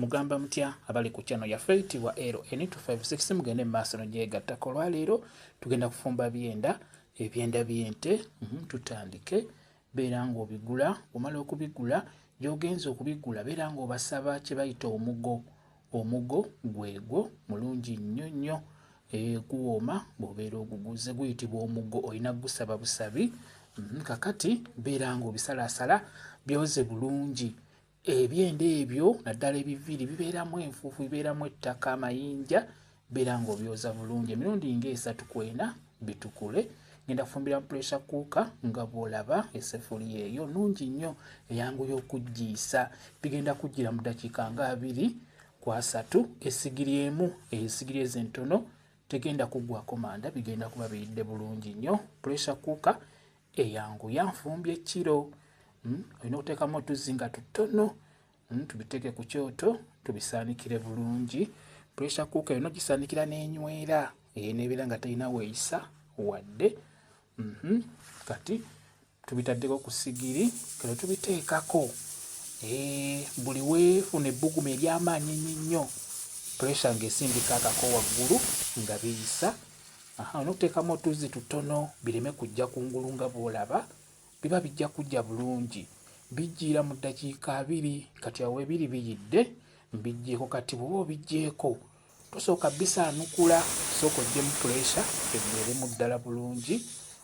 Mugamba mutya abali ku channel yaffe eyitibwa LN256 mugende mu maaso nogyegattako olwaleero tugenda kufumba byenda ebyenda byente mhm, tutandike beera ng'obigula omala okubigula gyogenza okubigula beera ng'obasaba kye bayita omugo omugo gwegwo mulungi nnyo nnyo eh, guwooma bw'obeera oguguze guyitibwa omugo olina kugusaba busabi mhm, kakati beera ng'obisalaasala byoze bulungi Ebyenda ebyo naddala ebiviiri bibeeramu enfuufu, bibeeramu ettaka, amayinja beera ng'obyoza bulungi emirundi ng'esatu ku ena bitukule. Ngenda kufumbira mu pressure cooker nga bw'olaba essefuliya eyo nnungi nnyo eyanguya okuggiisa. Bigenda kuggira mu ddakiika nga abiri ku asatu. Essigiri emu eyo essigiri ezo entono tegenda kuggwako manda, bigenda kuba biyidde bulungi nnyo. Pressure cooker eyanguya nfumbi ekkiro hmm, olina okuteekamu otuzzi nga tutono hmm, tubiteeke ku kyoto tubisaanikire bulungi pressure cooka erina ogisaanikira n'enywera eyo nebeera nga terina weeyisa wadde mhm. kati tubitaddeko ku sigiri kale tubiteekako eh, buli weefuna ebbugumu ery'amaanyi ennyo pressure ng'esindika akako waggulu nga biyisa Aha, onoteekamu otuzzi tutono bireme kujja kungulu nga bw'olaba, biba bijja kujja bulungi. Bijjiira mu ddakiika abiri, kati awo ebiri biyidde, mbijjeeko kati. Bw'oba obijjeeko tosooka bisaanukula, sooka ojjemu puleesa eggweeremu ddala bulungi,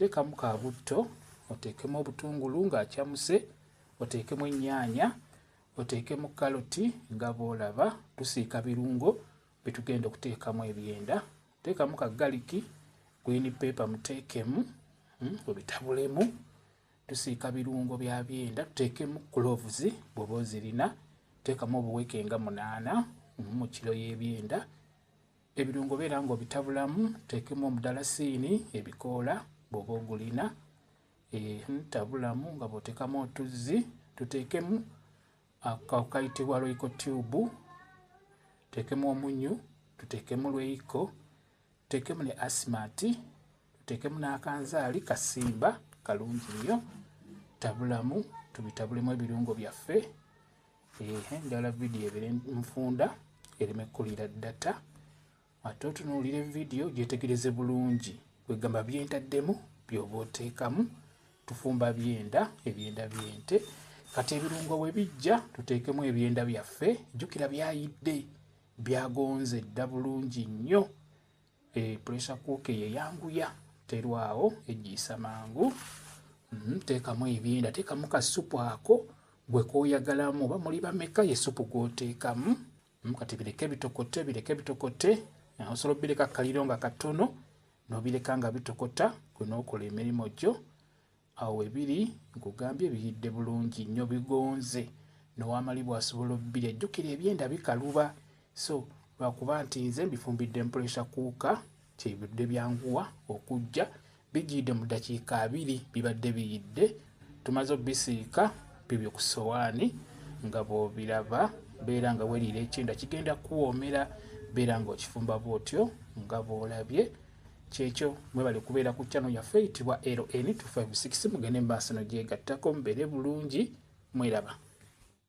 Teekamu ka butto, oteekemu obutungulu ng'acamuse, oteekemu ennyaanya, oteekemu kaloti nga bw'olaba. Tusiika birungo bye tugenda okuteekamu ebyenda. Teekamu ka galiki, green pepper muteekemu, hmm, obitabulemu. Tusiika birungo bya byenda, tuteekemu cloves bw'oba ozirina. Teekamu obuweke nga munaana hmm, mu kiro y'ebyenda. Ebirungo beera ng'obitabulamu, teekemu omudalasiini, ebikoola bw'oba ogulina, tabulamu nga bw'oteekamu otuzzi, tuteekemu akayitibwa royco tube, tuteekemu omunyu, tuteekemu lweyiko, tuteekemu ne asimati, tuteekemu n'akanzaali kasimba kalungi nnyo, tabulamu tubitabulemu ebirungo byaffe. ehe ndala video ebere nfunda ereme kulira data ate otunuulire vidiyo gyetegereze bulungi kwegamba byentaddemu byoba oteekamu tufumba byenda ebyenda byente kati ebirungo we bijja tuteekemu ebyenda byaffe jjukira byayidde byagonze dda bulungi nnyo E pressure cooker eyo eyanguya terwawo ejjiisa mangu. Mm, teekamu ebyenda, teekamu ka supu ako gwe kooyagalamu oba muli bameka ye supu gw'oteekamu. Mm, kati bireke bitokote, bireke bitokote. Osobola obireka kaliro nga katono, n'obireka nga bitokota, gwe n'okola emirimu gyo. Awo webiri nkugambye biyidde bulungi nyo bigonze nowamali bwasobola obbirya jukira ebyenda bikaluba so lwakuba nti nze mbifumbidde mpuresha kuuka kyebidde byanguwa okujja bijiyidde mu dakiika abiri bibadde biyidde tumaze obbisiika bibyo ku sowaani nga bwobiraba beera nga weriira ekyenda kigenda kuwoomera beera nga okifumba bwotyo nga bwolabye kyekyo mwebale kubeera ku channel yaffe eyitibwa LN256 mugende mumaaso nogyegattako mubeere bulungi mweraba